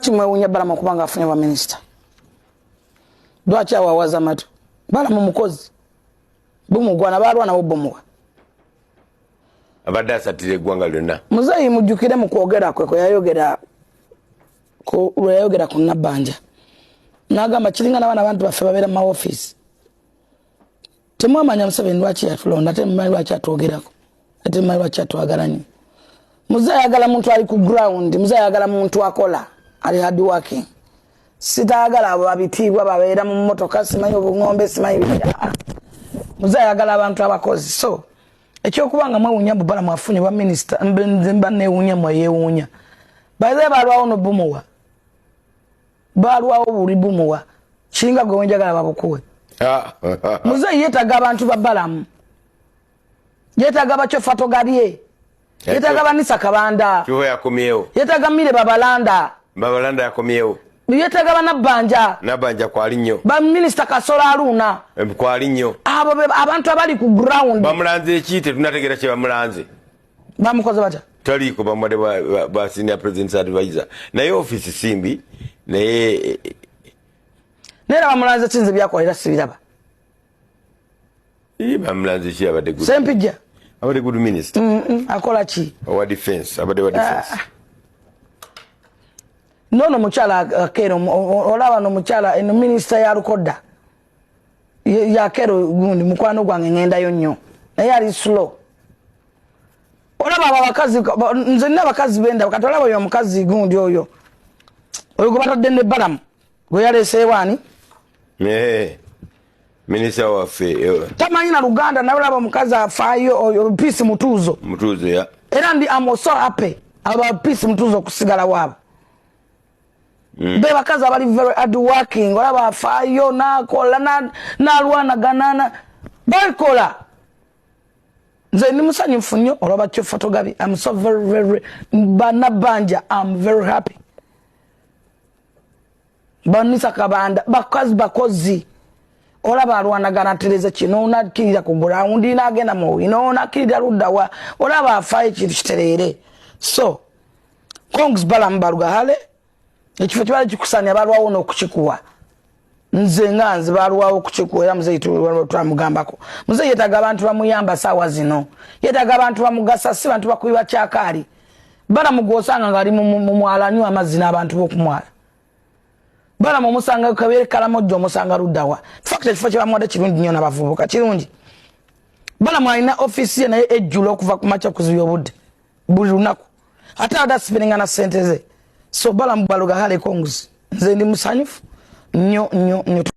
lwaki mwewunya balamu okuba nga afunye baminisita lwaki awawaza matu balamu mukozi bumugwana balwana bobumuwa abadde asatira eggwanga lyonna muzeeyi mujjukire mu kwogera kwe kweyayogera lweyayogera ku nabbanja nagamba kiringa nabaana abantu baffe babeera mu mawofiisi temwamanya museveni lwaki yatulonda ate mumanyi lwaki atwogerako ate mumanyi lwaki atwagala nyo muze ayagala muntu ali ku ground muze ayagala muntu akola ali hard working sitayagala abo babitiibwa babeera mu motoka simanyi obungombe simanyi bibira muze ayagala abantu abakozi so ekyokuba nga mwewunya bubala mwafunye bwa minisita mbanewunya mweyewunya baze balwawo nobumuwa balwawo buli bumuwa singa gwe wenjagala babukuwe ah. muzeeyi yetaga abantu babalamu yetaga bakyofatogalye yetaga banisa kabanda yetaga mire babalanda babalanda yakomyewo yetaga banabbanja nabbanja kwali nnyo baminisita kasola aluuna kwali nnyo abo abantu abali ku ground bamulanze eki tetunategera kyebamulanze bamukoze batya taliiko bamade ba senior presidents advisor naye office simbi naye eh, eh. naye bamulanze kinze byakola era sibiraba bamulanze ki abadde good sempijja abadde good minister mm, mm, akola ki owa defense abadde wa defense ah. nono mukyala akeera uh, olaba no mukyala eno minisita yalukodda yakero gundi mukwano gwange ngendayo nnyo naye ali slow olaba abo abakazi nze nina abakazi benda kati olaba oyo omukazi gundi oyo oyo gwe batadde ne balamu gwe yaleeseewo ani eh, minisita waffe eh. tamanyi na luganda naye olaba omukazi afaayo oyo piisi mutuuzo mutuuzo ya era ndi amoso ape aba piisi mutuuzo okusigala waabo Mm. be bakazi abali very hard working olaba afaayo nakola nalwanagana na, balikola nze ndi musanyufu nnyo olwaba kyo fotogabi am so very very banabanja am very happy banisa kabanda bakazi bakozi olaba alwanagana tereza kino nakirira ku gulawundi nagenda muwino nakirira luddawa olaba afaayo ekintu kitereere so congs balamu balugahale ekifo kibala kikusanya balwawo nokukikuwa nze nga nze balwawo okukikuwa era muzeyi twamugambako muzeyi yetaga abantu bamuyamba saawa zino yetaga abantu bamugasa si bantu bakubi bakyakaali balamu gwosanga ngaali mumwala nywa amazzi n'abantu bokumwala balamu omusanga kabeere kalamojja omusanga luddawa fakti ekifo kyebamuwadde kirungi nnyo nabavubuka kirungi balamu alina ofiisi ye naye ejjula okuva ku makya okuziba obudde buli lunaku ate ada asipiringa na sente ze so balamu baloga hale konguzi nze ndi musanyufu nyo nyo nyo